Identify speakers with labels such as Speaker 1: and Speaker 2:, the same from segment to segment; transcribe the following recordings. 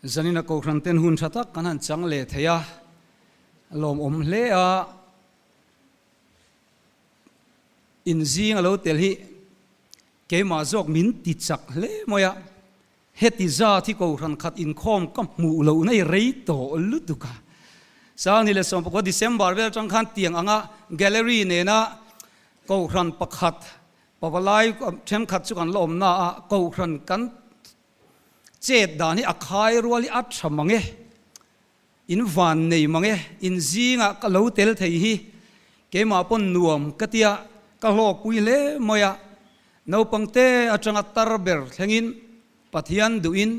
Speaker 1: Zanina Kohhran ten hun tha tak kan han chang leh thei a, a lawmawm hle a, inzing a lo tel hi keimah zawk min ti chak hle mawi a, heti zat hi Kohhran khat inkhawm ka hmuh loh na i rei tawh lutuk a, Sangni leh Sawmpakua December vel atang khan tiang anga Gallery nena Kohhran pakhat Pavalai thenkhat chu kan la awm na a kohhran kan chet dan hi a khai rual hi a tha mange in van nei mange in zinga ka lo tel thei hi keimah pawn nuam ka tia ka hlawk pui hle mai a naupang te atanga tar ber thleng in Pathian duh in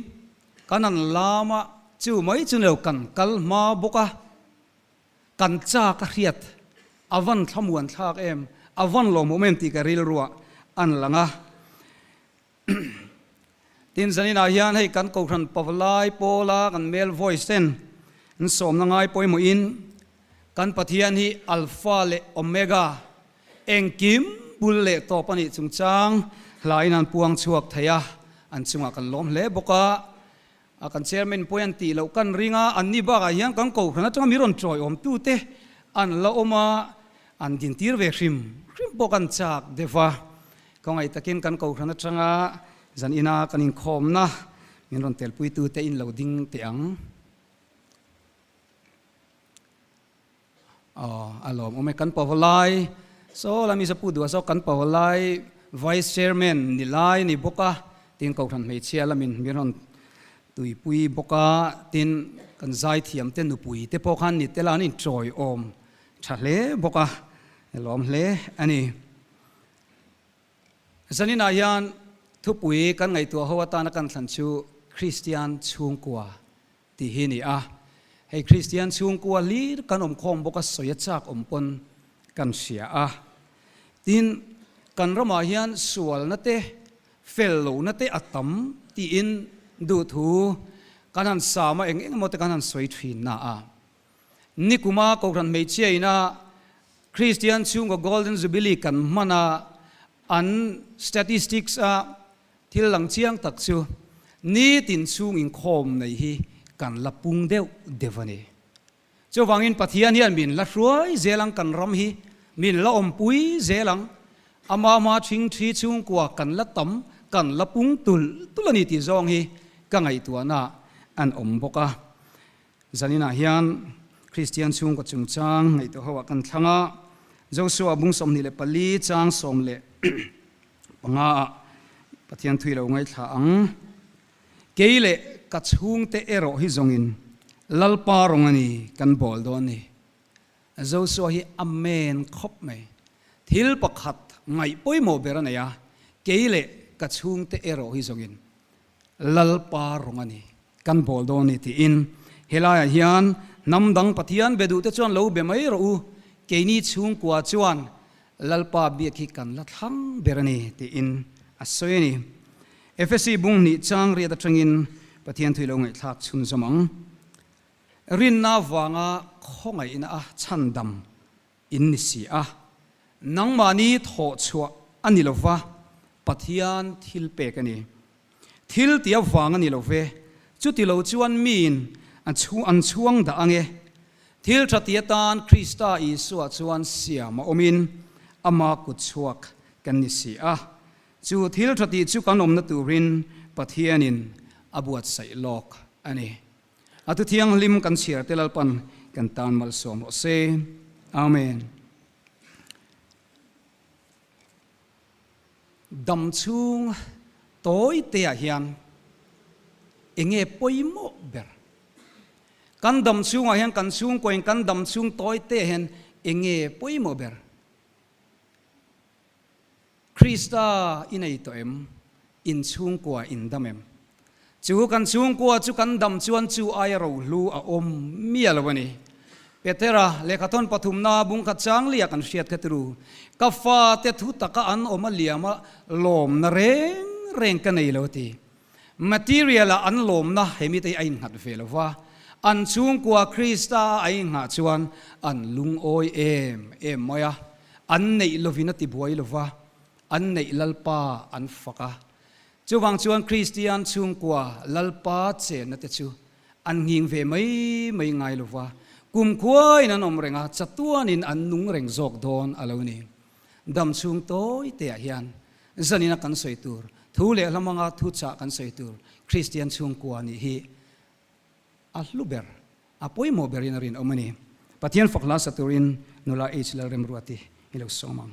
Speaker 1: kan han lam a chu mai chu neu kan kal hma bawk a. Kan cha ka hriat, a van thlamuan thlak em, a van lawm awm em tih ka rilruah an lang a. Tin zaninah hian hei kan Kohhran Pavlai Paula kan male voice ten in sawmna ngai pawimawhin kan Pathian hi Alpha leh Omega, engkim bul leh tawp a nih chungchang hlaiin an puang chhuak thei a, an chungah kan lawm hle bawk a. A kan chairman pawhin an tih loh kan ring a, anni bakah hian kan kohhran atanga mi rawn ṭawi awmtute an la awm a, an din tir ve hrim hrim pawh kan chak deuh a, khawngaih takin kan kohhran atanga zan ina kan inkhawmna min rawn telpuitute in lo ding teh ang. Aww alawm awm e kan pawhalai saw la misa pu duh saw kan pawhalai vice chairman ni lai ni bawk a tin kohhran hmeichhia la min hmir han tuipui bawk a tin kan zai thiam te nupui te pawh khan ni te la an in chawi awm tha hle bawk a alawm hle a ni zanin ah hian thupui kan ngaihtuah ho atana kan thlan chu kristian chhungkua Tih hi ni a, hei Kristian chhungkua hlir kan awmkhawm bawka sawi a chak awm pawn kan hria a. Tin, kan ramah hian sualna te, fel lohna te a tam tiin duhthu kan han sam a, eng eng emaw te kan han sawi thinna a. Nikuma kohhran hmeichhia ina Kristian chhunga Golden Jubilee kan hmana an statistics a, Thil dang chiang tak chu nitin chhung inkhawm nei hi kan la pung deuh deuh a ni. Chuvangin Pathian hian min la hruai zel ang kan ram hi min la awmpui zel ang, Amah hma thing thi chhungkua kan la tam, kan la pung tulh tulh a ni tih zawng hi ka ngaihtuahna an awm bawk a. Zaninah hian Kristian chhungkaw chungchang ngaihtuahho ah kan thlang a, Joshua bung sawmhnih leh pali chang sawm leh panga ah Pathian thui lo ngaithla ang. Kei leh ka chhungte erawh hi zawngin Lalpa rawng a ni kan bawl dawn ni. Joshua hi amen khawp mai. Thil pakhat ngaih pawimawh ber a nei a, kei leh ka chhungte erawh hi zawngin Lalpa rawng a ni, kan bawl dawn a ni tiin helaiah hian hnam dang Pathian be duhte chuan lo be mai rawh u, keini chhungkua chuan Lalpa biak hi kan la thlang ber a ni tiin a sawi a ni. Efesi bung hnih chang riat atangin Pathian thui lo ngaihthlak chhunzawm ang rinna vanga khawngaihna a chhandam In ni si a, nangmahni thawh chhuah a ni lova, Pathian thil pek a ni. Thil ti avang a ni lo ve, chuti lo chuan miin an chhuang dah ange. Thil tha ti atan Krista Isua chuan siam a awmin ama kut chhuak kan ni si a, chu thil tha ti chu kan awmna turin Pathianin a buatsaih lawk a ni. A thu thianghlim kan chhiar te lalpan kan tan malsawm rawh se. Amen. Dam chhung tawi te ah hian enge pawimawh ber kan dam chhungah hian kan chhungkawiin kan dam chhung tawi te ah hian enge pawimawh ber? Krista i nei tawh em? In chhungkua in dam em? Chu kan chhungkua chu kan dam chuan chu aia rohlu a awm miah lo a ni. Petera lehkha thawn pathumna bung khat changlia kan hriat kha turu, Ka fate thu taka an awm a liam a, lawmna reng reng ka nei lo a ti. Material a an lawmna he mite a innghat ve lo va, an chhungkua Krista a ai nghah chuan an lungawi em em mai a, an neih lovin a ti buai lo va, an neih Lalpa an fak a. Chuvang chuan Kristian chhungkua Lalpa chenna te chu an nghing ve mai mai ngai lo va, kumkhuain an awm reng a, chatuanin an nung reng zawk dawn a lo ni. Dam chhung tawi teah hian zanina kan sawi tur, thu leh hlamanga thu chah kan sawi tur Kristian chhungkua nih hi a hlu ber, a pawimawh berin a rinawm a ni. Pathian fak hla sa turin nula H. Lalremruati hi lo sawm ang.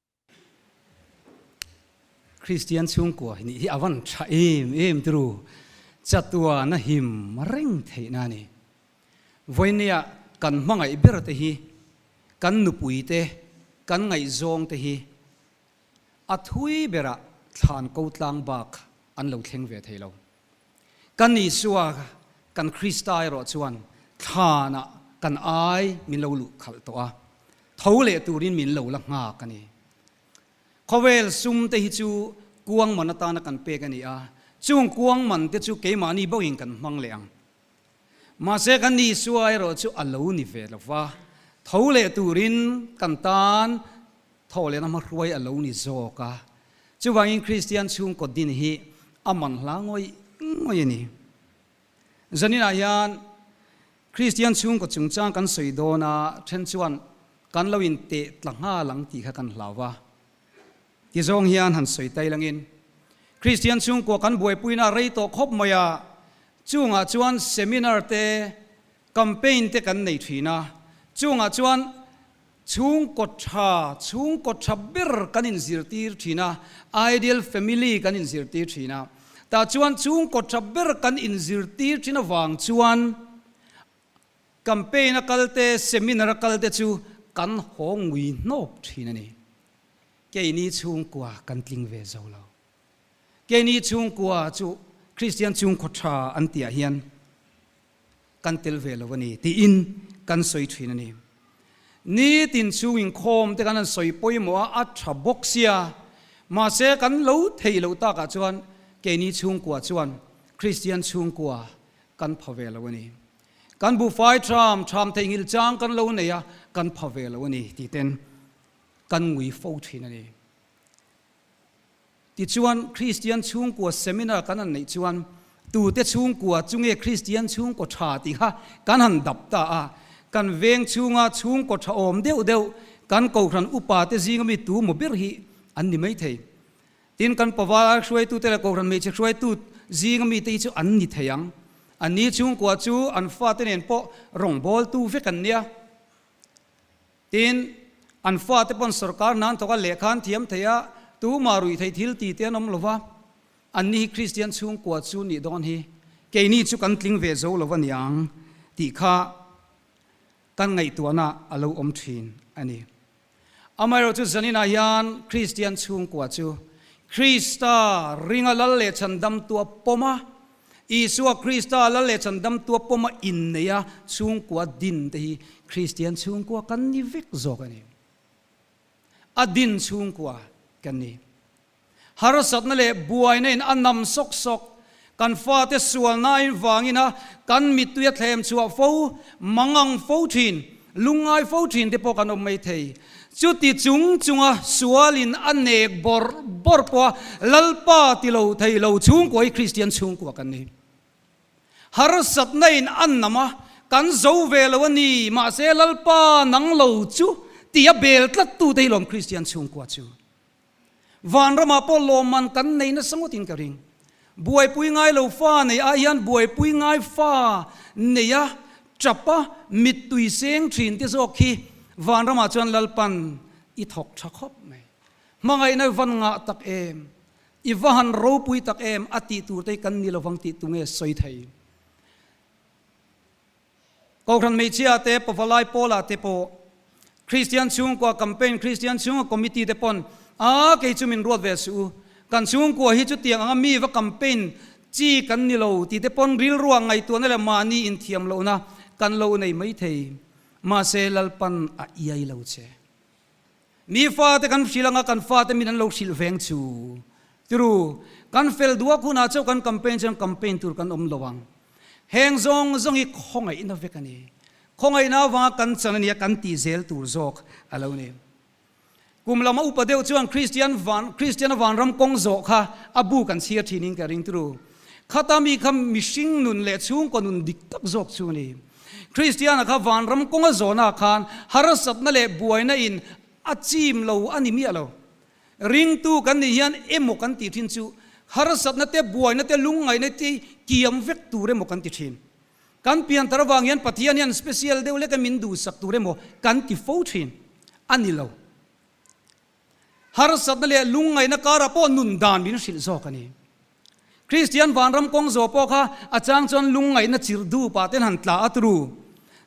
Speaker 1: Kristian chhungkua hi nih hi a van tha em em turu chatuana him reng theihna a ni. Vawinia kan hmangaih berte hi, kan nupuite, kan ngaihzawngte hi a thui berah thlan ko tlang bak an lo thleng ve thei lo. Kan Isua kan Krista erawh chuan thlan ah kan ai min lo luh khalh tawh a, tho leh turin min lo la nghak a ni. Khawvel sum te hi chu kuangman atana kan pek a ni a, chung kuangman te chu keimahni bawkin kan hmang leh ang. Mahse kan Isua erawh chu a lo ni ve lo va, tho leh turin kan tan Tho leh na hmahruai a lo ni zawk a, chuvangin Kristian chhungkaw din hi a man hla ngawih ngawih a ni. Zaninah hian Kristian chhungkaw chungchang kan sawi dawn a then chuan kan lo intehtla nghal ang tih kha kan hlau a, tizawng hian han sawi tailangin Kristian chhungkaw kan buaipuina a rei tawh khawp mai a, chungah chuan seminar te, campaign te kan nei thin a, chungah chuan Chhungkaw tha, chhungkaw tha ber kan inzirtir thin a, ideal family kan inzirtir thin a. Tah chuan chhungkaw tha ber kan inzirtir thin avang chuan campaign a kalte, seminar a kalte chu kan haw ngui hnawk thin a ni. Keini chhungkua kan tling ve zo lo. Keini chhungkua chu Kristian chhungkaw tha an tihah hian, kan tel ve lo a ni tiin kan sawi thin a ni. Nitin chhung inkhawm te kan han sawi pawimawh a, a tha bawk sia, mahse kan lo theih loh takah chuan keini chhungkua chuan Kristian chhungkua kan pha ve lo a ni. Kan buhfai tham tham theih nghil chang kan lo nei a, kan pha ve lo a ni tih ten kan ngui fo thin a ni. Tichuan, Kristian chhungkua seminar kan han neih chuan, tute chhungkua chunge Kristian chhungkaw tha tih kha kan han dap ta a, kan veng chhunga chhungkaw tha awm deuh deuh kan Kohhran upa te zinga mi tumaw ber hi an ni maithei. Tin, kan pavara hruaitute leh Kohhran hmeichhe hruaitu zinga mi te hi chu an ni thei ang. An ni chhungkua chu an fate nen pawh rawngbawltu vek an nia. Tin, an fate pawn sorkar hnan thawk a lehkha an thiam thei a, tumah ruih theih thil ti te an awm lo va. Anni hi Kristian chhungkua chu nih dawn hi keini chu kan tling ve zo lo a niang tih kha kan ngaihtuahna a lo awm thin a ni. Amaherawhchu zaninah hian Kristian chhungkua chu Krista ringa lal leh chhandam tua pawma Isua Krista lal leh chandam tua pawma inneia chhungkua din te hi Kristian chhungkua kan ni vek zawk a ni. A din chhungkua kan ni. Harsatna leh buaina in a nam sawk sawk, kan fate sualnaiin vangin a kan mitui a thlem chhuah fo, mangang fo thin, Lungngai fo thin te pawh kan awm mai thei. Chuti chung chunga sual in a nek bawr bawr pawha Lalpa ti lo thei lo chhungkua hi Kristian chhungkua kan ni. Harsatna in a nam a, kan zo ve lo a ni, mahse Lalpa nang lo chu ti a bel tlat tu te hi lawm Kristian chhungkua chu. Vanrama pawh lawmman kan nei nasa ngawt in ka ring. Buaipui ngailo fa nei ah hian buaipui ngai fa nei a tap a mittui seng thin te zawk hi Vanrama chuan Lalpan i thawk tha khawp mai. Hmangaihna van ngah tak em, i va han ropui tak em a tih tur te hi kan ni lovang tih tunge sawi thei. Kohhran hmeichhia te pavalai Paula te pawh Kristian chhungkua campaign Kristian chhunga committee te pawn a kei chu min ruat ve suh u, kan chhungkua hi chutiang anga mi va campaign chi kan ni lo tih te pawn rilruah ngaihtuahna leh mahni inthiam lohna kan lo nei maithei, mahse Lalpan a iai lo che. Mi fate kan hrilh anga kan fate min an lo hrilh veng chu. Turu, kan fel duhak hunah chauh kan campaign chuan campaign tur kan awm lo ang. Heng zawng zawng hi khawngaihna vek a ni. Khawngaihna avanga kan chan a nia kan tih zel tur zawk a lo ni. Kum lama upa deuh chuan Kristian van, Kristiana vanram kawng zawh kha a bu kan chhiar thin in ka ring. Turu, khata mi kha mihring nun leh chhungkaw nun dik tak zawk chu a ni. Kristiana kha vanram kawnga zawnah khan harasatna leh buaina in a chim lo a ni miah lo. Ringtu kan nih hian emaw kan ti thin chu harasatna te, buaina te, lungngaihna te kiam vek tur emaw kan ti thin. Kan piantar vang hian Pathian hian special deuh leka min duhsak tur emaw kan ti fo thin a ni lo. harsatna leh lungngaihna kara pawh nun dan min hrilh zawk a ni. Kristian vanram kawng zawh pawh kha a chang chuan lungngaihna chirh dup ah te han tla a tru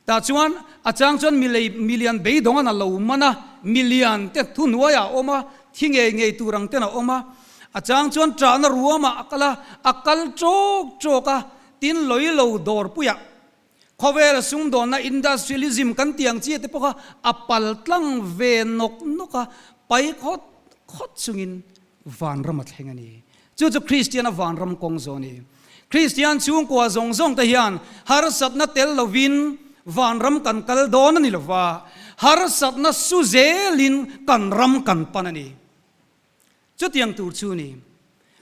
Speaker 1: tah chuan a chang chuan milei milian beidawng an a lo man a, milian te thuhnuai ah a awm a, thi ngei ngei tur ang ten a awm a, a chang chuan trahna ruam ah a kal a, a kal trawk trawk a, tin lawilo dawrpuiah Khawvel sumdawnna industrialism kan tih ang chi te pawh kha a pal tlang ve nawk nawk a, pai khawt khawt chungin vanram a thleng a ni. Chu chu Kristian a vanram kawng zawh a ni. Kristian chhungkua zawng zawng te hian harsatna tel lovin vanram kan kal dawn a ni lo va, harsatna su zelin kan ram kan pan a ni. Chutiang tur chu ni.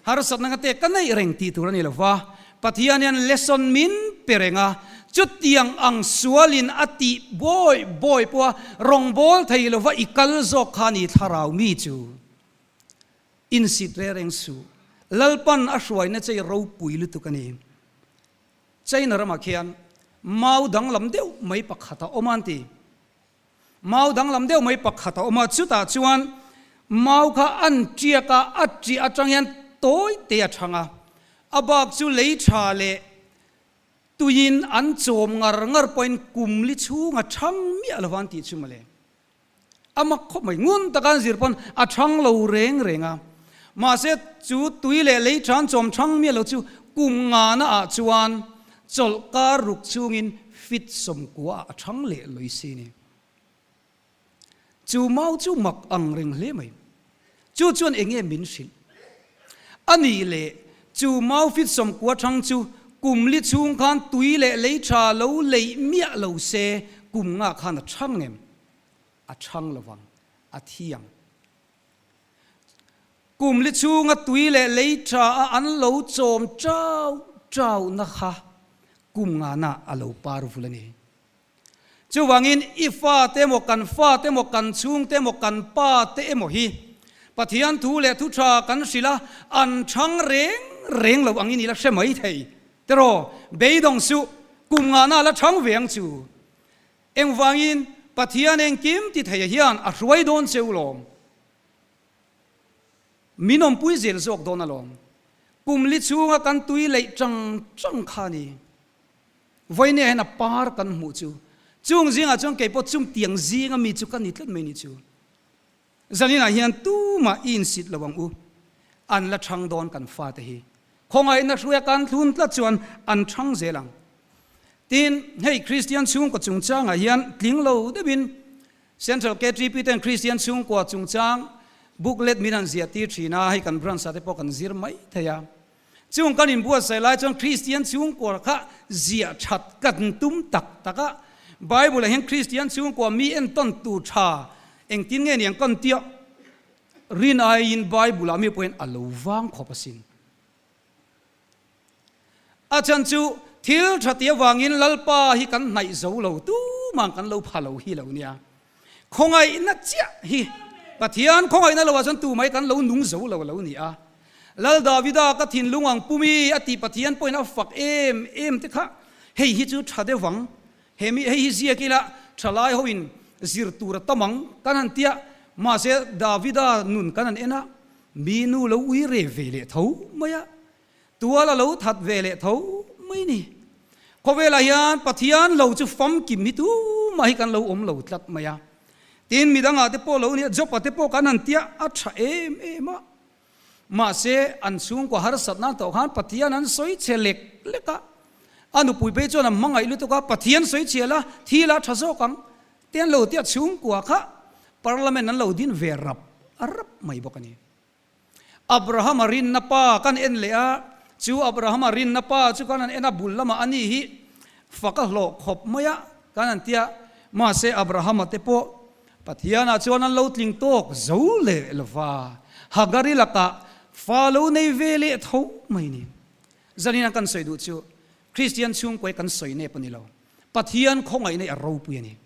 Speaker 1: Harsatna ka te ka neih reng tih tur a ni lo va, Pathian hian lesson min pe reng a, chutiang ang sualin a tih bawi bawi pawha rawngbâwl thei lova i kal zawk kha a ni thlarau mi chu insit reng reng suh. Lalpan a hruaina chei ropui lutuk a ni. China ramah khian mau danglam deuh mai pakhat a awm a an ti. Mau danglam deuh mai pakhat a awm a, chutah chuan mau kha an tiak a, a tiah atang hian tawi te a thang a, a bak chu lei tha leh tuiin an chawm ngar ngar pawhin kum li chhunga thang miah lova an tih chu maw le. A mak khawp mai, ngun taka an zir pawn a thang lo reng reng a, mahse chu tui leh lei tha an chawm thang miah lo chu kum ngana ah chuan Chawlh kar ruk chungin fit sawmkuaah a thang leh lui si ni. Chu mau chu mak ang reng hle mai. Chu chuan enge min hrilh? A nih leh, chu mau fit sawmkua thang chu kum li chhung khan tui leh lei tha lo leih miah lo se, kum nga khan a thang em? A thang lovang, a thiang. Kumli chhunga tui leh lei tha-a an lo chawm ṭau ṭau nakha kum ngana a lo par vul a ni. Chuvangin i fate emaw, kan fate emaw, kan chhungte emaw, kan pate emaw hi Pathian thu leh thu ṭha kan hrilh a, an ṭhang reng reng lo ang i nila hre maithei. Tiraw, beidawng suh, kum ngana la ṭhang ve ang chu. Engvangin Pathian engkim ti theia hian a hruai dawn cheu lawm? Min awmpui zel zawk dawn alawm. Pumli chhunga kan tui leih chang chang kha ni. Vawinia hian a par kan hmuh chu. Chung zingah chuan keipawh chungtiang zinga mi chu kan ni tlat mai ni chu. Zaninah hian tumah i insît lo ang u, an la ṭhang dawn kan fate hi. Khawngaihna hruia kan tlun tlat chuan an ṭhang zel ang. Tin, hei Kristian chhungkaw chungchangah hian tling lo deuhin Central KTP ten Kristian chhungkua chungchang booklet min an ziah tir ṭhin a, hei kan branch-ate pawh kan zir mai thei a. Chung kan inbuatsaih lai chuan Kristian chhungkua kha ziah that kan tum tak tak a. Bible-ah hian Kristian chhungkua mi entawn tur tha engtin nge ni ang kan ti a, rin aiin Bible-ah mi pawhin a lo vang khawp asin. A chhan chu thil tha ti avangin Lalpa hi kan hnaih zo lo tumah kan lo pha lo hi lo nia. Khawngaihna chiah hi Pathian khawngaihna lo ah chuan tumai kan lo nung zo lo a lo ni a. Lal Davida ka thinlung ang pum i a tih Pathian pawhin a fak em em te kha hei hi chu tha deuh ang, he mi hei hi ziak ila tha lai ho in zir tur a tam ang kan han ti a, mahse Davida nun kan han en a, mi nu lo ui reh ve leh tho mai a, Tual a lo that ve leh tho mai ni. Khawvelah hian Pathian lo chu famkim hi tumah hi kan lo awm lo tlat mai a. Tin, mi dangah te pawh lo nia, Jopa te pawh kan han tia a tha em em a. Mahse, an chhungkua harsatna tawh khan Pathian an sawi chhe lek lek a. A nupui phei chuan an hmangaih lutuk a, Pathian sawi chhe la, thil a tha zawk ang te an lo tia chhungkua kha Parliament an lo din ve rap rap mai bawk a ni. Abrahama rinna pa kan en leh a, chu Abrahama rinna pa chu kan han en a bul lamah ani hi fa ka hlawh khawp mai a kan han ti a, mahse Abrahama te pawh Pathianah chuan an lo tling tawk zo leh lo va, Hagari lakah fa lo nei ve leh tho mai ni. Zanin an kan sawi duh chu Kristian chhungkua hi kan sawi nep a ni lo, Pathian khawngaih neih a ropui a ni.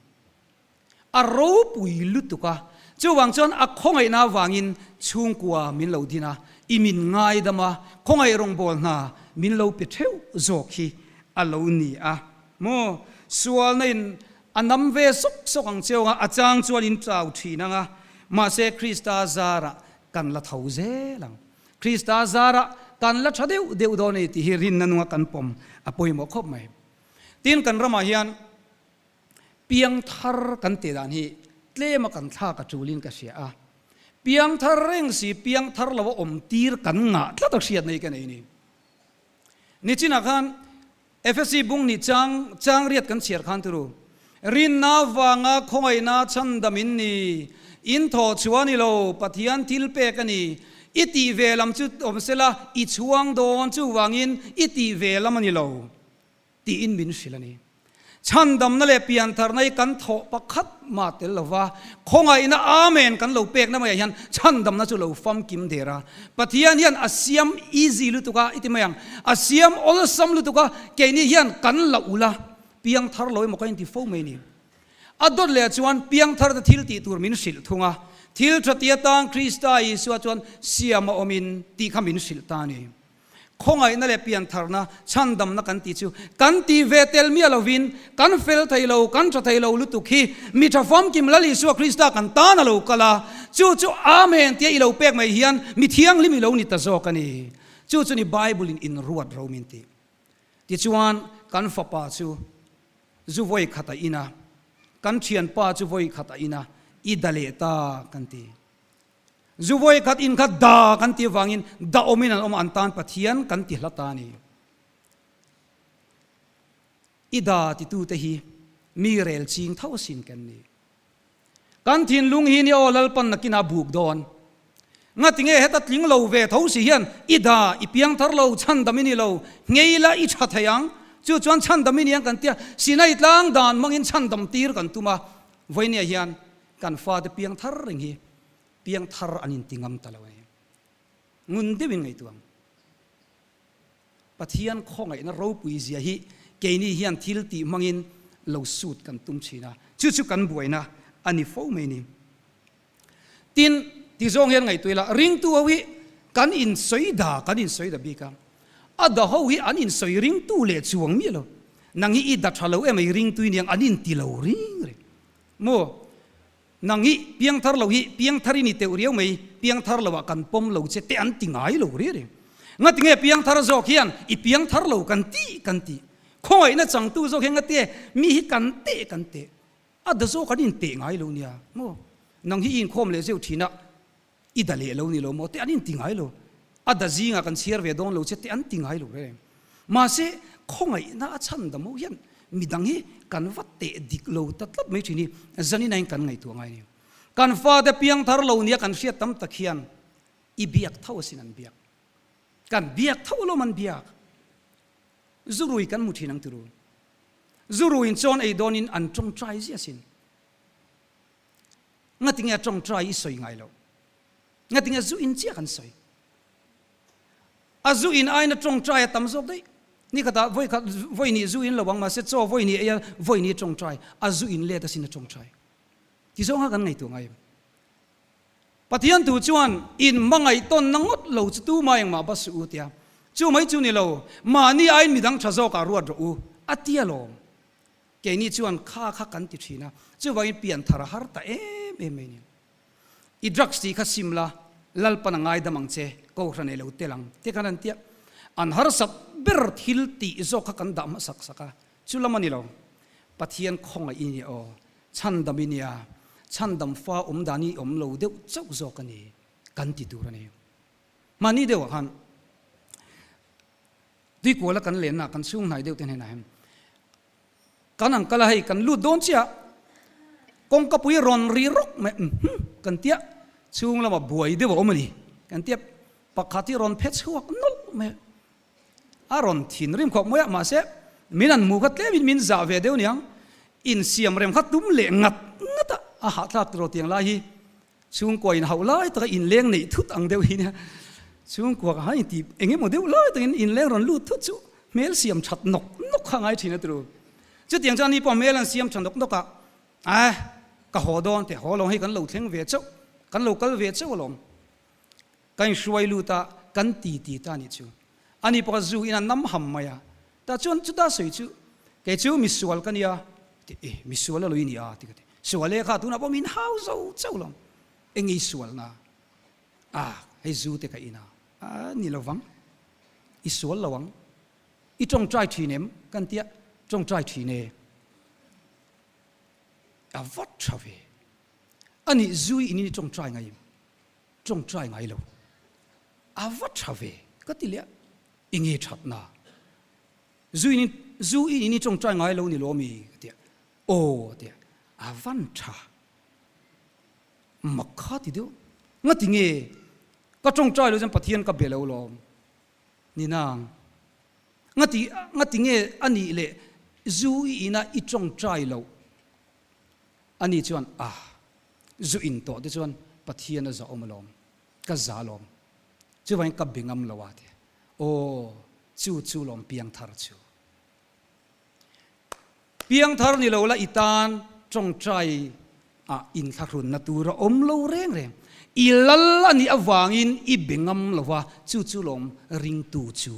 Speaker 1: a ropui lutuk a, chuvang chuan a khawngaihna avangin chhungkua min lo din a, i min ngaidam a, khawngaih rawngbâwl hna min lo pe theuh zawk hi a lo ni a maw? Sualna in a nam ve sawk sawk ang cheu a, a châng chuan in tlâu ṭhin ang a, mahse Krista zârah kan la tho zêl ang. Krista zârah kan la ṭha deuh deuh dawn e tih hi rinna nunga kan pawm a pawimawh khawp mai. Tin, kan ramah hian Piang thar kan teh dan hi tlem a kan thlak a tulin ka hria a, piang thar reng si piang thar lo a awm tir kan ngah tlat a hriat nei ka nei ni. Nichinah khan FSC bung nih chang chang riat kan chhiar khan turu rinna vanga khawngawina chhan dam in ni, in thaw chhuah ni lo, Pathian thil pek a ni, i tih ve lam chu awm sela i chhuang dawn chuvangin i tih ve lam a ni lo. Tiin min hrilh a ni. Chhan damna leh piantharna hi kan thawh pakhat ma tel lo va, khawngaihna amen kan lo pekna maiah hian chhan damna chu lo famkim der a. Pathian hian a siam easy lutuk a, i ti mai ang? A siam awlsam lutuk a, kei ni hian kan la ulh a, piangthar lo emaw ka inti fo mai ni? A dawt leh chuan piangthar te thil tih tur min hrilh thung a, thil thatia tang Krista Isua chuan siam a awm in tih kha min hrilh ta a ni. Khawngaihna leh piantharna, chhandamna kan tih chu kan tih ve tel miah lovin kan fel thei lo, kan tha thei lo lutuk hi mi tha famkim lal Isua Krista kan tan a lo kal a. Chu chu Amen tia i lo pek mai hian mi thianghlim i lo ni ta zawk a ni. Chu chu ni Bible-in in ruat ro min tih. Tichuan, kan fapa chu zu vawi khat a in a, kan thianpa chu vawi khat a in a, i da leh ta kan ti. Zu vawi khat in khat da kan ti avangin dahawmin an awmah an tan Pathian kan ti hla ta ni. I da titute hi mi rel ching tho asin kan ni. Kan thinlung hi ni aw lalpan nakinah buk dawn. Ngatinge heta tling lo ve tho si hian i da i piang thar lo, chhandam i ni lo, ngei la i tha thei ang, chu chuan chhandam i ni ang kan tia, sinaitlang dan hmangin chhandam tir kan tum a, vawinia hian Kan fate piang thar reng hi piang thar an inti ngam ta lo a ni. Ngun deuhin ngaihtuah, Pathian khawngaihna ropui zia hi keini hian thil tih hmangin lo sut kan tum thin a, chu chu kan buaina a ni fo mai ni. Tin, tizawng hian ngaihtuah ila, ringtu ho hi kan insawi da, kan insawi da bik a, a da ho hi an insawi ringtu leh chuang miah lo, nang hi i da tha lo em a, i ringtui nia ang an inti lo ring reng. Maw? Nang hi piang thar lo hi piang thar i ni teuh riau mai, piang thar lo ah kan pawm lo che te an ti ngai lo reng reng. Ngatinge piang thar zawk hian i piang thar lo kan ti kan ti. Khawngaihna changtu zawk hian ngatia mi hi kan te kan te. A da zawk an in teh ngai lo nia. Maw? Nang hi i inkhawm leh zeuh thin a, I da leh lo ni lo maw te an inti ngai lo. A da zingah kan chhiar ve dawn lo che te an ti ngai lo reng. Mahse, khawngaihna a chhan dam ho hian midang hi kan va teh dik lo ta tlat mai thin hi zaninain kan ngaihtuah ngai a ni. Kan fate piangthar lo nia kan hriat tam tak hian i biak tho asin an biak. Kan biak tho alawm an biak. Zu rui kan hmu thin ang ti ru. Zu ruin chuan ei dawnin an tawngtai zia sin. ngatinge a tawng try i sawi ngai lo ngatinge zu in chiah kan sawi a zu in aina tawng try a tam zawk daih ni kha ta voi kha voi ni zu in lo ang ma se chaw voi ni eia voi ni tawng try a zu in let a sin a tawng try ti zawng a kan ngaihtuah ngai em pathian thu chuan in hmangaih tawn na ngawt lo chu tu mai ang mah ba suh u tia chu mai chu ni lo mahni ain midang tha zawk ah ruat rawh u a tia lawm Keini chuan kha kha kan ti thin a, chuvangin pian thar a har ta em em mai nia. I drugs tih kha sim la, Lalpan a ngaidam ang che, kohhran nei lo tel ang te kan han tia. An harsat ber thil tih zawk kha kan dah hmasak sak a, chu lam a ni lo. Pathian khawngaih i nia aw, chhandam i nia, chhandam fa awm dan i awm lo deuh chauh zawk a ni, kan ti tur a ni. Hmani deuhah khan Tuikuala kan lenna kan chhung hnai deuhte hnenah hian kan uncle a hei kan lut dawn chiah kawngkapui rawn ri rawk mai uhmm kan tia chhung lama buai deuh a awm a ni kan tia pakhat hi rawn phe chhuak nawlh mai a rawn thin rim khawp mai a mahse min an hmu kha tlemin min zah ve deuh niang insiam rem kha tum leh ngat ngat a a hahthlak tilo tiang lai hi Chhungkua in hauh lai taka in leng neih thut ang deuh hi nia. Chhungkua ka hai in ti eng emaw deuh lai takin in leng rawn lut thut chu hmel siam that nawk nawk kha ngai thin a tlu. Chutiang chuan ni pawh hmel an siam tha nawk nawk a, ae ka haw dawn teh haw alawm hei kan lo thleng ve chauh, kan lo kal ve chauh alawm. Ka inhruai lut a, kan ti ti ta nih chu. A ni pakhat zu in a nam ham mai a, tah chuan chuta sawi chu, Kei chu mi sual ka nia, ka ti. E, mi sual a lo i ni a, ti ka ti. Sual e, kha tunah pawh min hau zo chauh lo. Enge i sual na? A, hei zu te ka in a. A, ni lo vang, i sual lo ang. I tawngtai thin em? Kan ti a, tawngtai thin e. A vat tha ve. A nih zui in in i tawngtai ngai em? Tawng try ngai lo. A va tha ve ka ti leh a, i nge thatna? Zu in Zu i in i tawng try ngai lo ni lawm i ka ti a, aw a ti a, a van tha mak kha ti deuh, ngati nge ka tawng try lo chuan Pathian ka be lo lawm ni nang, ngati ngati nge a nih leh Zu i in a i tawng try loh? Ani chuan, Ah, zu in tawh te chuan Pathian a zahawm alawm, ka za lawm, chuvain ka be ngam lo a ti a. Aw, chu chu lawm piang thar chu. Piang thar ni lo la i tan tawngtai ah in thlahrunna tur a awm lo reng reng. I lal a nih avangin i be ngam lo a, chu chu lawm ringtu chu.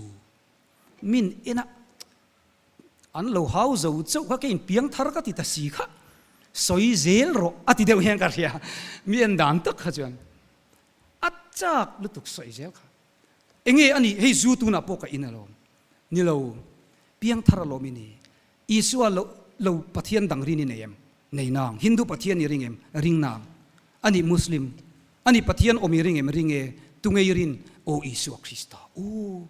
Speaker 1: Min enah An lo hau zo chauh kha ka inpiang thar ka ti ta si kha, sawi zel rawh a ti deuh hian ka hria, mi en dan tak kha chuan a chak lutuk sawi zel kha. Enge a nih hei zu tunah pawh ka in alawm ni lo, piang thar alawm i ni, Isua lo lo Pathian dang ri ni nei em, nei nang, Hindu Pathian ni ring em, ring nang, a nih Muslim a nih Pathian awm i ring em, ring e, tu ngei rin, aw Isua Krista aw.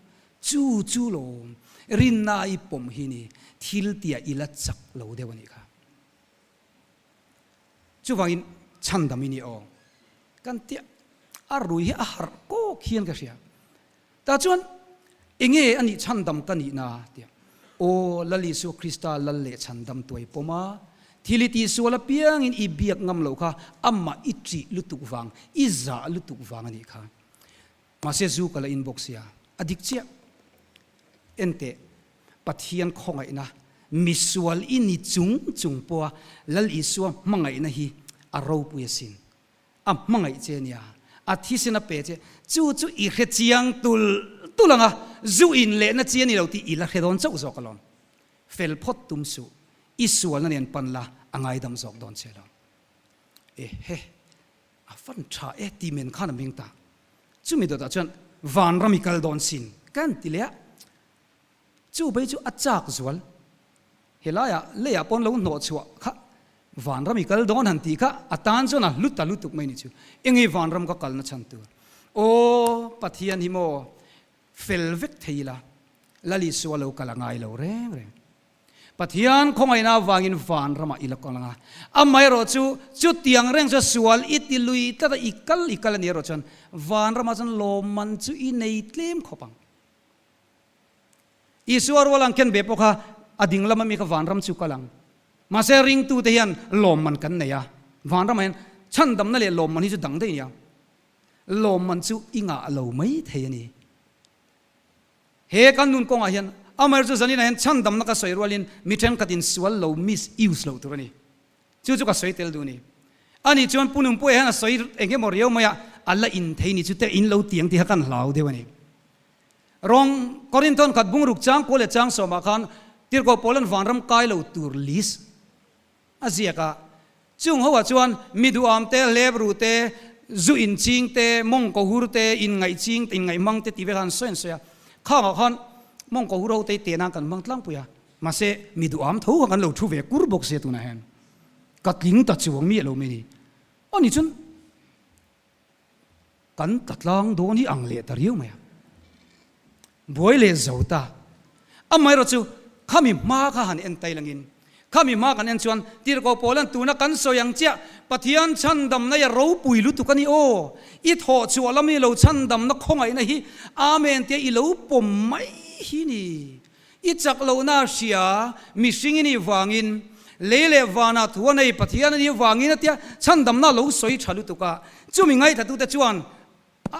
Speaker 1: Chu chu lo, rinna a i pawm hi ni, thil tia i la chak lo deuh a nih kha. Chuvangin chhan dam i ni aw kan tih a, a rui hi a harh kawk hian ka hria. Tah chuan enge a nih chhan dam ka nihna tih a, aw Lal Isua Krista lal leh chhan dam tuai pawm a, thil i tihsual apiangin i biak ngam lo kha, amah i ṭih lutuk vang, i zah lutuk vang a nih kha. Mahse zu ka la inbawk sia, a dik chiah. Enteh, Pathian khawngaihna, misual i ni chung chung pawha Lal Isua hmangaihna hi a ropui a sin. A hmangaih che nia, a thisen a pe che, chu chu i hre chiang tul tul ang a, zu in lehna chi a ni lo tih i la hre dawn chauh zawk alawm. Fel phawt tum suh, i sualna nen pan la a ngaidam zawk dawn che lo. Eheh. A fan tha e tih men khan a meng ta. Chumi dawtah chuan Vanram i kal dawn sin kan ti leh a. Chu bai chu a chak zual. He laia lei ah paw'n lo hnawh chhuah kha Vanram i kal dawn han tih kha a tan chuan a hlu ta lutuk mai ni chu. Eng i Vanram ka kalna chhan tur? Aw Pathian hi maw fel vek thei ila Lalisua lo kal a ngai lo reng reng. Pathian khawngaihna avangin van ramah i la kal ang a, amaherawh chu chutiang reng chuan sual i ti lui tlat a, i kal i kal a nih erawh chuan van ramah chuan lawmman chu i nei tlem khawp ang. Isua rual ang khian ve pawh kha a ding lama mi kha van ram chu kal ang. Mahse ringtute hian lawmman kan nei a, van ramah hian chhandamna leh lawmman hi chu dang daih a ni ang. Lawmman chu i ngah lo mai thei a ni. He kan nun kawngah hian Amer chu zanina hian chhan damna ka sawi rualin mi thenkhat in sual lo miss use lo tur a ni. Chu chu ka sawi tel duh ni. A nih chuan Pu Nunpuia hian a sawi eng emaw riau mai a a la in thei ni chu te in lo tiang tih kha kan hlau deuh a ni. Rawng Korin thawn khat bungruk chang pawl leh chang sawmah khan tirhkoh pawl an vanram kai lo tur list A ziak a. Chung ho ah chuan mi duham te, hlep ruh te, zu in ching te, mawng ko hur te, in ngaih ching te, in ngaih hmang te tih vek ah an sawi an sawi a. Khang ah khan mawng ko hur ho tei te nan kan hmang tlangpui a. Mahse mi duham tho khan kan lo thu ve kur bawk sia tunah hian ka tling ta chuang miah lo mai ni. Ani chun Kan ta tlang dawn hi ang leh ta riau mai a, buai leh zo ta. Amaherawh chu khami hma kha han en tailo ngin, khami hma kan en chuan tirhkoh pawl hian tuna kan sawi ang chiah Pathian chhandamnai a ropui lutuk a ni aw, i thawh chhuah lam i lo chhandamna khawngaihna hi amen tia i lo pawm mai hi ni. I chak lohna hria, mihring i nih vangin, lei leh vana thu a nei, Pathian a nih vangin a tia chhandamna lo sawi tha lutuk a. Chumi ngaihthlatute chuan a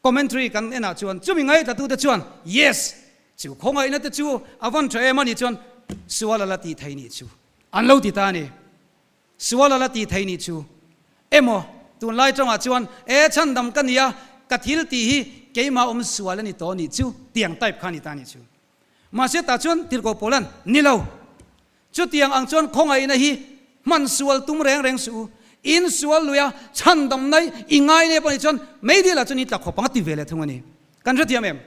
Speaker 1: commentary kan enah chuan chumi ngaihthlatute chuan Yes! chu khawngainate chu a van tha em a nih chuan sual a la ti thei nih chu an lo ti ta a ni. Sual a la ti thei nih chu. Emaw, tunlai tawngah chuan e chhan dam ka nia, ka thil tih hi keimah awm sual a ni tawh nih chu tiang type kha a ni ta nih chu. Mahse tah chuan Tirhkoh Pawlan, Ni lo. Chutiang ang chuan khawngaihna hi hman sual tum reng reng suh u. In sual luia chhan damna i ngai nep a nih chuan meidil ah chuan in tlak khawpanga ti ve leh thung a ni. Kan hrethiam em?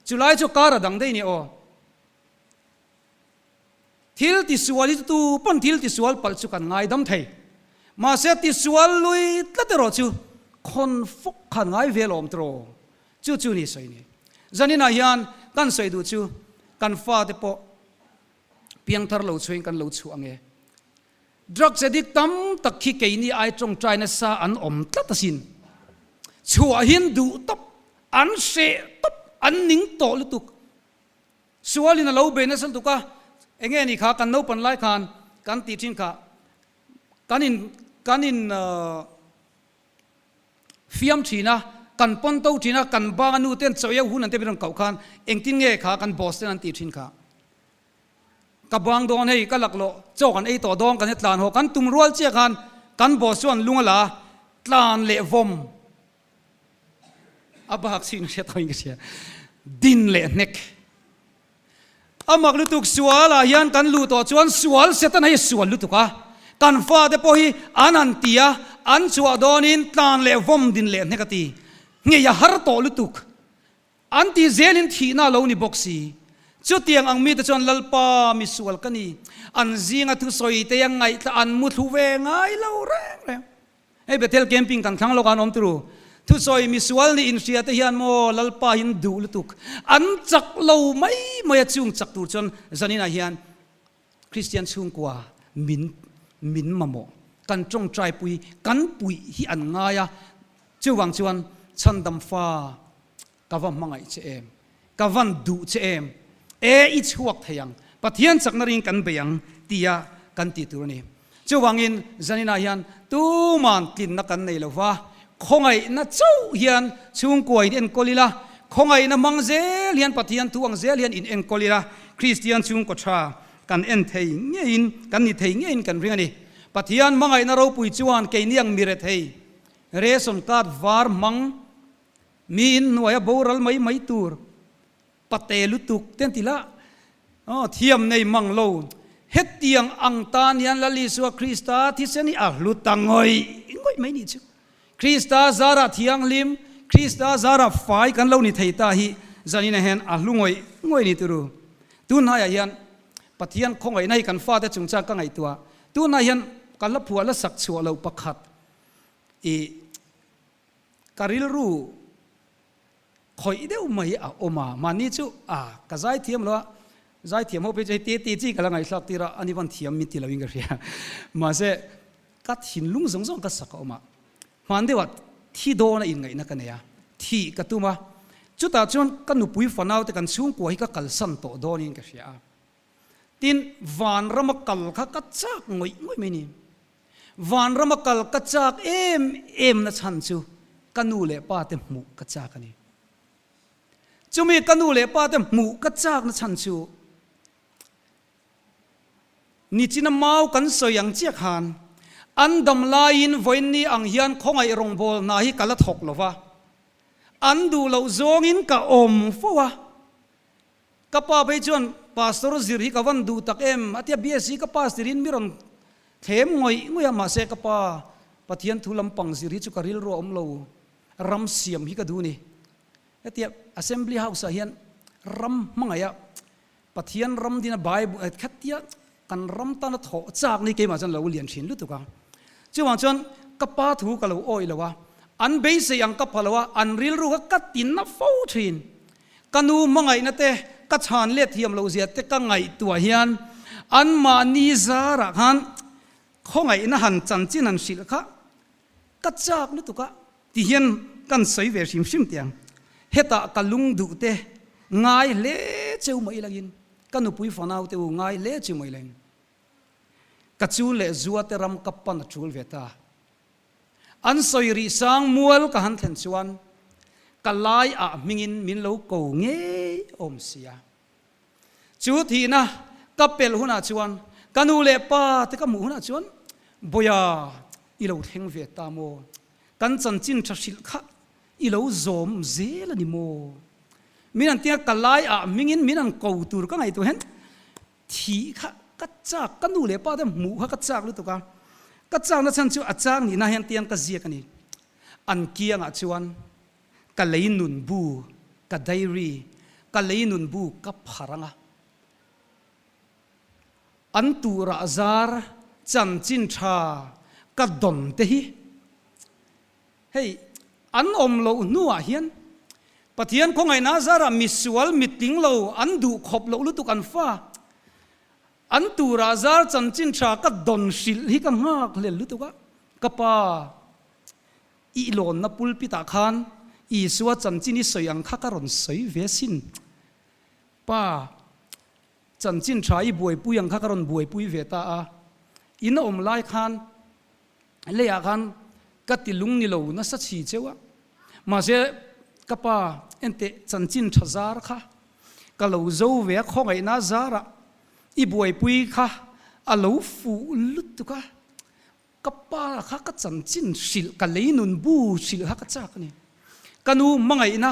Speaker 1: Chulai chu kar a dang daih nia aw. Thil tisual itutu pawn thil tisual palh chu kan ngaidam thei. Mahse, tisual lui tlat erawh chu khawn fawk khan ngai ve lawm tawh chu chu ni sawi ni. Zaninah hian kan sawi duh chu kan fate pawh piang thar lo chhuain kan lo chhuah ange. Drugs addict tam tak khi keini ai tawngtai nasa an awm tlat asin. Chhuahin duh tawp, an hreh tawp, an ning tawh lutuk. Sualin a lo be nasal tuk a, enge ni kha kan naupan lai khan kan ti thin kha kan in kan in fiam thin a, kan pawn to thin a, kan banu ten chawiau hun an tep in rawn koh khan engtin nge kha kan boss ten an ti thin kha. Ka bang dawn hei ka laklawh chawk an ei tawh dawn kan i tlan haw, kan tum rual chiah khan kan boss chuan lung a la a, tlan leh vawm A bak chhin hriat thawiin ka hria. Din leh hnek. A mak lutuk sual ah hian kan luh tawh chuan sual se tan hei sual lutuk a. Kan fa te pawh hi an han ti a, an chhuah dawn in tlan leh vawm din leh hnek a ti. Ngei a har tawh lutuk. An tih zel in thihna a lo ni bawk si. Chutiang ang mi te chuan Lalpa, misual ka ni. An zing a thusawi te a ngaih tla an mu thlu ve ngai lo reng reng. Hei Bethel Camping kan thlang lawkah an awm turu thusawi misual nih inhria te hian maw Lalpaiin duh lutuk an chak lo mai mai a chhung chak tur chuan zaninah hian Kristian chhungkua min min mamawh kan tawngtaipui kan puih hi an ngai a chuvang chuan chhandam fa Ka va hmangaih che em? Ka van duh che em? E, i chhuak thei ang. Pathian chakna ring kan bei ang, tia kan ti tur a ni. Chuvangin Janina hian tuman tlinna kan nei lo va, khawngaihna chauh hian chhungkua in enkawl ila, khawngaihna hmang zel hian Pathian thu ang zel hian in enkawl ila, Kristian chhungkaw tha kan en thei ngeiin, kan ni thei ngeiin kan ring a ni. Pathian hmangaihna ropui chuan keini ang mi rethei, ration card var hmang Miin hnuaia boral mai mai tur pate lutuk ten ti lah aw thiam nei mang lo. Hetiang ang tan hian Lal Isua Krista thisen hi a hluta ngawih ngawih mai ni chu. Krista zara thianghlim, Krista zara fai kan lo ni thei ta hi zanina hian a hlu ngawih ngawih ni tur u. Tu hnaiah hian Pathian khawngawihna hi kan fate chung chuan ka ngaihtuah. Tunah hian ka hla phuah la sak chhuah lo pakhat i. Ka rilru khawih deuh mai a awm a, mahni chu a ka zai thiam lo a, zai thiam ho phei chu hei tete chi ka la ngaihtlak tir a, ani van thiam min ti lo in ka hria. Mahse, ka thinlung zawng zawng ka sak a awm a, hmaan deuha thi dawna inngaihna ka nei a, thih ka tum a, chutah chuan ka nupui fanaute kan chhungkua hi ka kalsan tawh dawn in ka hria a. Tin, vanrama kal kha ka chak ngawih ngawih mai ni. Vanrama kal ka chak em em na chhan chu ka nu leh pa te hmuh ka chak a ni. Chumi ka nu leh pa te hmuh ka chak na chhan chu nichina mau kan sawi ang chiah khan an dam laiin vawiinni ang hian khawngaih rawngbawl hna hi ka la thawk lo va, an duh loh zawngin ka awm fo a. Ka pa phei chuan Pastor zir hi ka van duh tak em a tia BSC ka pass tir in mi rawn thlem ngawih ngawih a mahse ka pa Pathian thu lam pang zir hi chu ka rilru a awm lo ram siam hi ka duh ni a tia Assembly House ah hian ram hmangaih ah Pathian ram din a Bible khat tia Kan ram tan a thawh chak ni keimah chuan lo lian thin lutuk a, chuvang chuan ka pa thu ka lo awi lo a, an beisei ang ka palo a, an rilru kha ka ti na fo thin. Ka nu hmangaihna te, ka chhan let thiam lo zia te ka ngaihtuah hian anmahni zarah khan khawngaihna han chanchin han hrilh kha Ka chak lutuk a. Ti hian kan sawi ve hrim hrim tih ang. Heta ka lung duh te ngai hle cheu mai lo in, ka nupui fanau te u ngai hle cheu mai lo in, ka chun leh zua te ram ka pan a tul ve ta. An sawi rih sang mual ka han thlen chuan ka lai ah hming in min lo ko ngei awm sia. Chu tihna ka pelh hunah chuan ka nu leh pa te ka hmuh hunah chuan, Bawia, i lo thleng ve ta maw? Kan chanchin tha hrilh kha i lo zawm zel a ni maw? Min an tinga ka laiah hmingin min an ko tur ka ngaihtuah hian thih kha ka chak, ka nu leh pa te hmuh kha ka chak lutuk a. Ka chakna chhan chu a chak nihna hian tiang ka ziak a ni. An kiangah chuan Ka lei nun bu, ka diary, ka lei nun bu ka phar anga an turah zar chanchin tha ka dawn te hi hei an awm loh hnuah hian Pathian khawngaihna zarah misual mitling lo an duh khawp loh lutuk an fa an turah zar chanchin tha ka dawn hrilh hi ka nghak hlel lutuk a ka pa Ihlawnna pulpitah khan Isua chanchin i sawi ang kha ka rawn sawi ve sin. Pa, chanchin tha i buaipui ang kha ka rawn buaipui ve ta a. In a awm lai khan leiah khan ka ti lung ni lo nasa chhi cheu a. Mahse, ka pa, ente chanchin tha zar kha ka lo zo ve a, khawngaihna zarah i buaipui kha a lo fuh lutuk a. Ka pa kha ka chanchin hrilh, ka lei nun bu hrilh kha ka chak a ni. Ka nu hmangaihna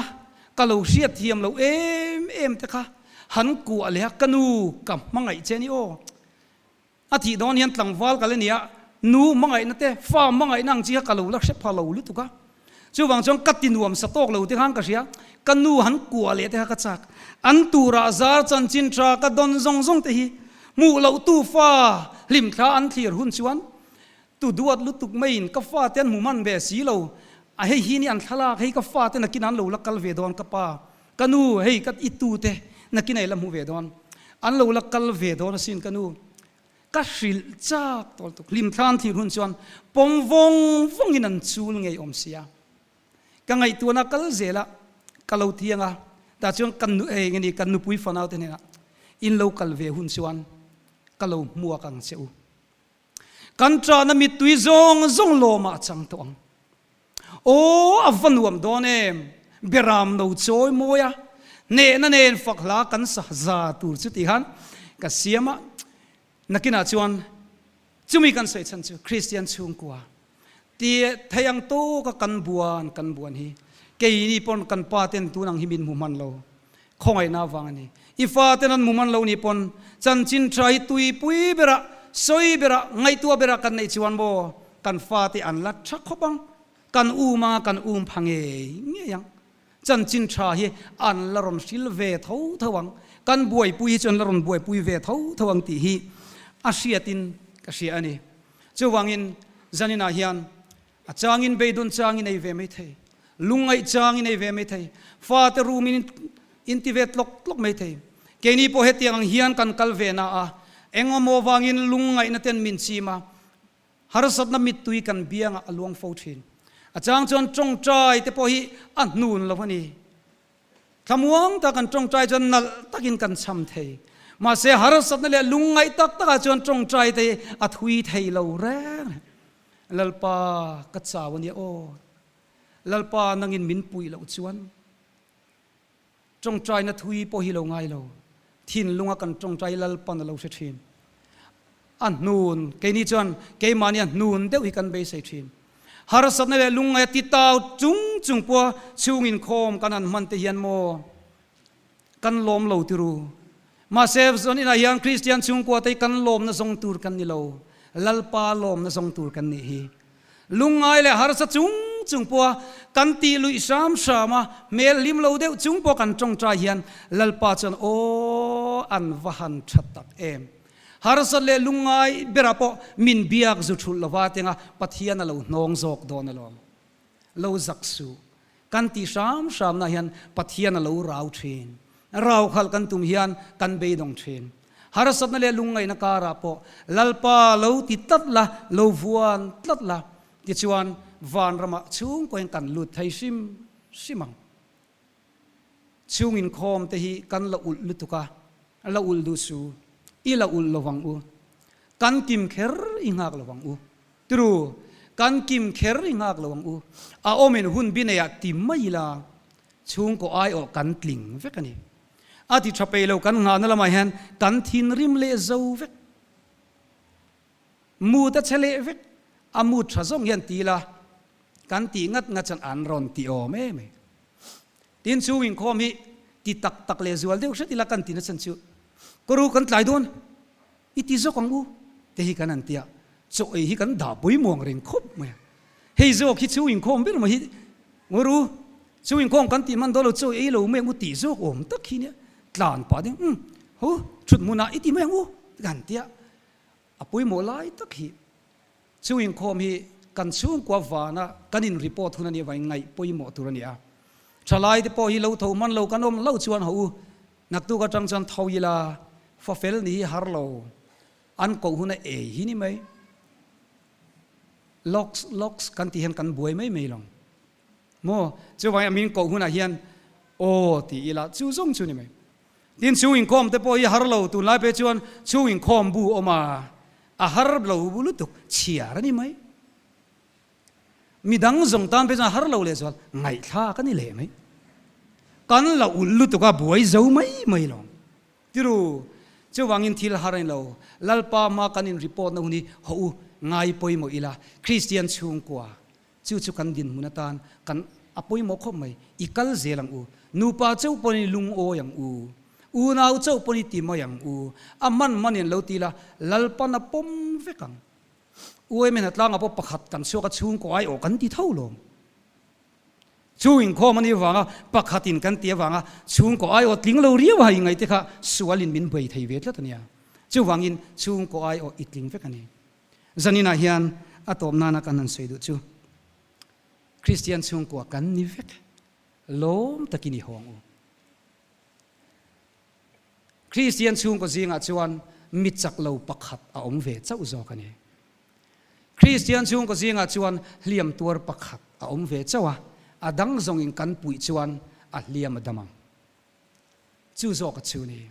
Speaker 1: ka lo hriat hiam lo em em te kha han kuah leh a, ka nu ka hmangaih che a ni aw. A tih dawn hian tlangval ka la nia, nu hmangaihna te, fa hmangaihna ang chi kha ka lo la hre pha lo lutuk a. Chuvang chuan ka tinuam sa tawk lote khan ka hria, ka nu han kuah leh te kha ka chak. An turah zar chanchin tha ka dawn zawng zawng te hi hmuh loh tu fa hlim thla an thlir hun chuan tu duat lutuk maiin ka fa te an hmu hman ve si lo, a hei hi ni an thlalak hei ka fa te nakin an lo la kal ve dawn ka pa, ka nu hei ka i tu te nakin a i la hmu ve dawn an lo la kal ve dawn asin ka nu. Ka hrilh chak tawltuk. Hlimthlan thih hun chuan pawm vawng vawngin an chul ngei awm sia. Ka ngaihtuahna a kal zel a, ka lo thiang a, tah chuan ka nu eng ani ka nupui fanau te hnenah in lo kal ve hun chuan ka lo hmuak ang che u. Kan ṭahna mittui zawng zawng lawmah a chang tawh ang. Aw a va nuam dawn em! Beram lo chawi mawi a, nehna nen fak hla kan sa za tur chu tih han ka siam a, nakinah chuan chumi kan sawi chhan chu Kristian chhungkua tia theih ang tawka kan buan kan buan hi keini pawn kan paten tun ang hi min hmu hman lo, Khawngaihna avang a ni. I fate nan mum an lo nih pawn chanchin tha hi tuipui berah, sawi berah, ngaihtuah berah kan neih chuan maw kan fate an la tha khawp ang. Kan um anga kan um pha ngei ngei ang. Chanchin tha hi an la rawn hril ve tho tho ang. Kan buaipui hi chu an la rawn buaipui ve tho tho ang tih hi a hriatin ka hria a ni. Chuvangin zaninah hian A changin beidun chang i nei ve mai thei, lungngaih chang i nei ve mai thei, fate rum in in ti ve tlawk tlawk mai thei. Keini pawh hetiang ang hian kan kal ve na a, engemaw vangin lungngaihna ten min chim a, harsatna mittui kan biang ah a luang fo thin. A chang chuan tawngtai te pawh hi a hnun lo a ni. Thlamuang ta kan tawngtai chuan nalh tak in kan cham thei. Mahse harsatna leh lungngaih tak tak ah chuan tawngtai te hi a thui thei lo reng reng. Lalpa, ka chau a nia aw. Lalpa, nangin min puih loh chuan tawngtaina thui pawh hi lo ngai lo. Thinlunga kan tawngtai Lalpan a lo hre thin. A hnun, keini chuan keimahni a hnun deuh hi kan beisei thin. Harsatna leh lungngaia titau chung chung pua chhungin khawm kan han hman te hian maw kan lawm lo tir u. Mahse, zawn inah hian Kristian chhungkuatei kan lawmna zawng tur kan ni lo. Lalpa lawmna zawng tur kan nih hi. Lungngai leh harsa chung chung pawha kan tih luih hram hram a, hmel hlim lo deuh chung pawh kan tawngtai hian Lalpa chuan aw an va han tha tak em. Harsat leh lungngai berah pawh min biak zu thulh lova tenga Pathian a lo hnawng zawk dawn alawm. Lo zak suh. Kan tih hram hramna hian Pathian a lo rau thin. A rau khalh kan tum hian kan beidawng thin. Harsatna leh lungngaihna karah pawh Lalpa lo ti tlat la, lo vuan tlat la. Tichuan, vanramah chhungkawiin kan lut thei hrim hrim ang. Chhung inkhawm te hi kan la ulh lutuk a, la ulh duh su. I la ulh lovang u. Kan kim kher i nghak lovang u. Tru, kan kim kher ri nghak lo ang u. A awmin hun bi nei ah ti mai ila chhungkaw ai awh kan tling vek a ni. A ti tha peih lo kan nghahna lam ah hian kan thinrim leh zo vek. Mut a che leh vek, a mut tha zawng hian ti ila kan tih ngat ngat chuan an rawn ti awm em e. Tin chung inkhawm hi ti tak tak leh zual deuh hret ila kan ti nachan chu ka ru kan tlai dawn. I ti zawk ang u, te hi kan han ti a, chaw ei hi kan dah pawimawng reng khawp mai a. Hei zawk hi chhu inkhawm ber mai hi Nguru, chhu inkhawm kan tih man dawn lo, chaw ei lo mai ang u tih zawk awm tak hi nia. Tlan pah ding, Umm, hu, thut hmunah i ti mai ang u, te ka han ti a, a pawimawh lai tak hi. Chu inkhawm hi kan chhungkua vana kan inreport hun ania vain ngaih pawimawh tur ania. Thalai te pawh hi lo tho hman lo kan awm lo chuan hau u, naktuk atang chuan tho ila, fafel ni hi har lo, an koh hun a ei hi ni mai, lox lox kan tih hian kan buai mai mai lo. Maw? Chu vangin a min koh hunah hian Aw ti ila, chu zawng chu ni mai. Tin, chhung inkhawm te pawh hi a har lo, tunlai pawh hi chuan chhung inkhawm bu awm a, a har lo bu lutuk chhiar a ni mai. Mi dang zawng tan pawh hi chuan a har lo lehzual ngaihthlak a ni leh mai. Kan la ulh lutuk a buai zo mai mai lo. Tiru, chu vangin thil har a ni lo. Lalpa hma kan inreport na hun hi hauh u, ngai pawimawh ila, Kristian chhungkua Chu chu kan dinhmun atan kan a pawimawh khawp mai. I kal zel ang u. Nupa chauh pawn i lungawi ang u. Unau chauh pawn i ti mai ang u. A hman mah nen lo ti ila, Lalpan a pawm vek ang. U Eme Hnatlanga pawh pakhat kan chhuak a chhungkaw aiawh kan ti tho lawm. Chhung inkhawm anih avanga pakhatin kan ti avanga chhungkaw aiawh tling lo riau a i ngaihte kha sualin min buai thei ve tlat ania. Chuvangin chhungkaw aiawh i tling vek a ni. Zaninah hian a tawp nana kan han sawi duh chu Kristian chhungkua kan ni vek lawm takin i hawng u. Kristian chhungkaw zingah chuan mi chak lo pakhat a awm ve chauh zawk a ni. Kristian chhungkaw zingah chuan hliam tuar pakhat a awm ve chauh a, a dang zawngin kan puih chuan a hliam a dam ang. Chu zawk a chhu ni.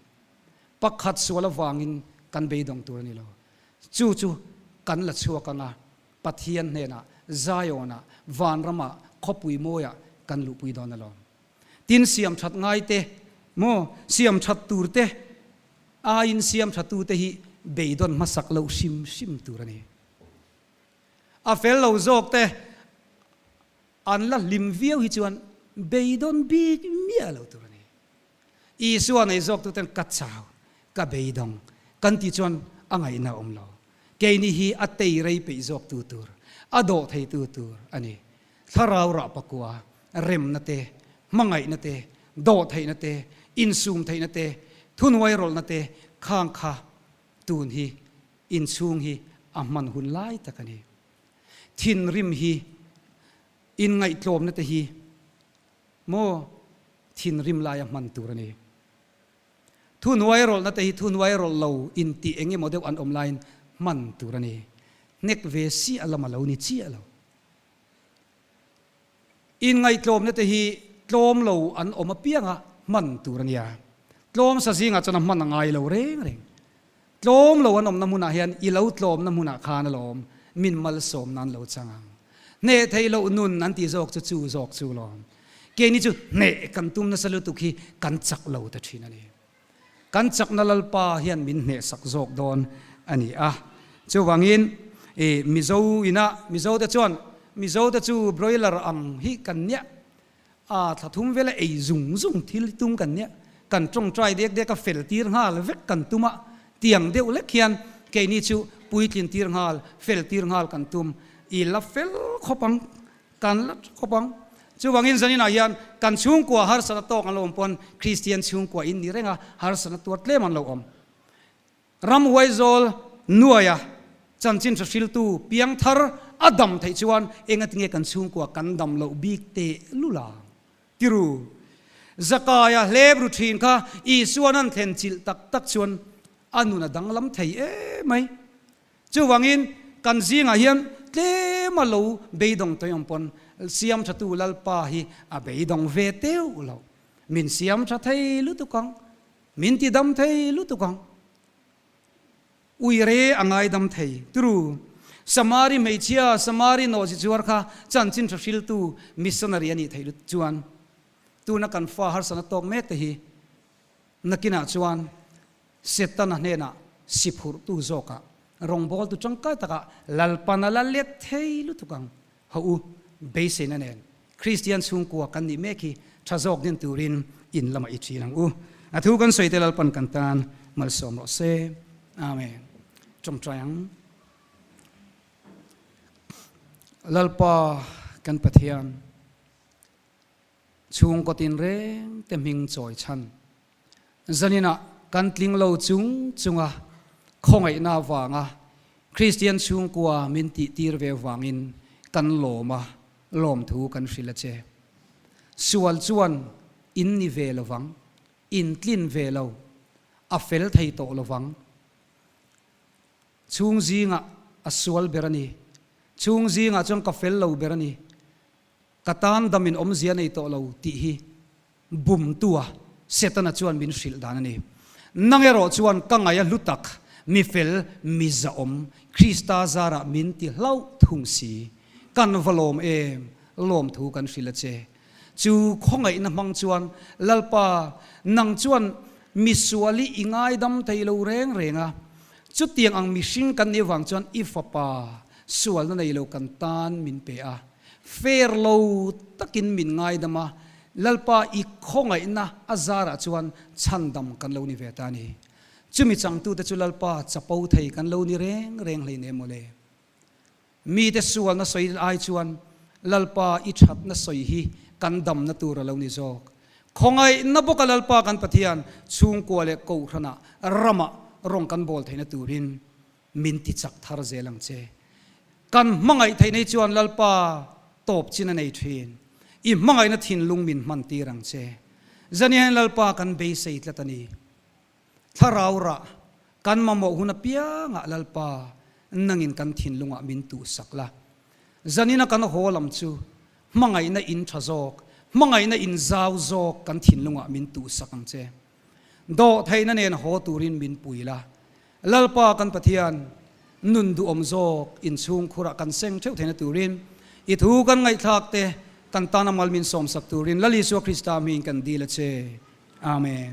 Speaker 1: Pakhat sual avangin kan beidawng tur a ni lo. Chu chu kan la chhuak ang a, Pathian hnenah, Zion-ah, vanramah, khawpui mawiah kan luhpui dawn alawm. Tin, siamthat ngaite maw, siamthat turte aiin siamthatute hi beidawn hmasak loh hrim hrim tur a ni. A fel lo zawkte, An la hlim viau hi chuan beidawn bik miah lo tur a ni. Isua nei zawktu ten ka chau, ka beidawng kan ti chuan a ngaihna a awm lo. Kei nih hi a tei rei peih zawktu tur, a dawh theitu tur a ni. Thlarau rah pakua, remna te, hmangaihna te, dawh theihna te, insum theihna te, thunuai rawlhna te khang kha tun hi inchhung hi a hman hun lai tak a ni. Thinrim hi inngaihtlawmna te hi maw thinrim lai a hman tur a ni. Thunuai rawlhna te hi thunuai rawlh lo intih eng emaw deuh an awm laiin hman tur a ni. Hnek ve si a lam a lo ni chiah lo. Inngaihtlawmna te hi tlawm lo an awm apianga hman tur a nia. Tlawm sa zingah chuan a hman a ngai lo reng reng. Tlawm lo an awmna hmunah hian i lo tlawmna hmunah khan a lawm, min malsawmna an lo chang ang. Hneh theih loh nun an ti zawk chu chu zawk chu lawm. Keini chu hneh kan tum nasa lutuk hi kan chak lo ta thin a ni. Kan chakna lalpa hian min hnehsak zawk dawn a ni a. Chuvangin i Mizo inah Mizote chuan Mizote chu broiler ang hi kan niah a, thla thum vela ei zung zung thil hi tum kan niah, kan tawng try dek dek a, fel tir nghal vek kan tum a, tiang deuh lek hian keini chu puitlin tir nghal, fel tir nghal kan tum i la fel khawp ang. Kan la ṭhu khawp ang. Chuvangin zaninah hian kan chhungkua harsatna tawk an lo awm pawn Kristian chhungkua in nih renga harsatna tuar tlem an lo awm. Ram Huaizawl nuaia chanchin hre hriltu piang thar a dam theih chuan engatinge kan chhungkua kan dam loh bik teh lula? Tiru Zakaya Hlebru ṭhin kha Isuan an thlen chilh tak tak chuan a nun a danglam thei emai. Chuvangin, kan zingah hian tlem a lo beidawng tawh ang pawn Siamthatu Lalpa hi a beidawng ve teuh lo. Min siam tha thei lutuk ang, min ti dam thei lutuk ang. Ui re a ngaidam thei. Turu, Samari hmeichhia, Samari nawhzi chuar kha chanchin tha hriltu missionary a nih theih lut chuan tuna kan fa harsatna tawk mek te hi, Nakinah chuan Setana hnenah siphurhtu zawkah rawngbawltu tangkai takah lalpan a la let thei lutuk ang. Hawh u, beiseina nen Kristian chhungkua kan nih mek hi tha zawk din turin in lamah i ṭhin ang u. A thu kan sawi te lalpan kan tan malsawm rawh se. Amen. Ṭawngṭai ang. Lalpa kan Pathian. Chhungkaw tin reng te hming chawi chhan zaninah kan tling lo chung chunga khawngaihna vanga Kristian chhungkua min tihtir ve vangin kan lawm a, lawmthu kan hrilh a che. Sual chuan in ni ve lo vang, in tlin ve lo, a fel thei tawh lo vang. Chhung zingah a sual ber a ni, chhung zingah chuan ka fel lo ber a ni. Ka tan dam in awm zia nei tawh lo tih hi bumtu a, Setana chuan min hrilh dan a ni. Nang erawh chuan ka ngaih a hlu tak, mi fel, mi zahawm, Krista zarah min ti hlauh thung si. Kan va lawm em? Lawmthu kan hrilh a che. Chu khawngaihna hmang chuan, Lalpa, nang chuan misual i i ngaidam thei lo reng reng a, chutiang ang mihring kan nih avang chuan i fapa sualna nei lo kan tan min pe a, Fer lo takin min ngaidam a, Lalpa i khawngaihna a zarah chuan chhandam kan lo ni ve ta ni. Chumi changtute chu Lalpa chapo thei kan lo ni reng reng hlein em awle. Mite sualna sawi ai chuan Lalpa i thatna sawi hi kan damna tur a lo ni zawk. Khawngaihna bawka Lalpa kan Pathian chhungkua leh kohhranah ramah rawng kan bawl theihna turin Min ti chak thar zel ang che. Kan hmangaih theih nei chuan Lalpa tawp chin a nei thin. I hmangaihna thinlung min hman tir ang che. Zaniain Lalpa kan beisei tlat a ni. Thlarau rah kan mamawh hun apiangah Lalpa nangin kan thinlungah min tuh sak la. Zanina kan haw lam chu hmangaihna in tha zawk, hmangaihna in zau zawk kan thinlungah min tuh sak ang che. Dawh theihna nen haw turin min puil a, Lalpa kan Pathian, nun duhawm zawk in chhungkhurah kan seng theuh theihna turin I thu kan ngaihthlak te kan tan a mal min sawmsak turin Lal Isua Krista hmiin kan dil a che. Amen.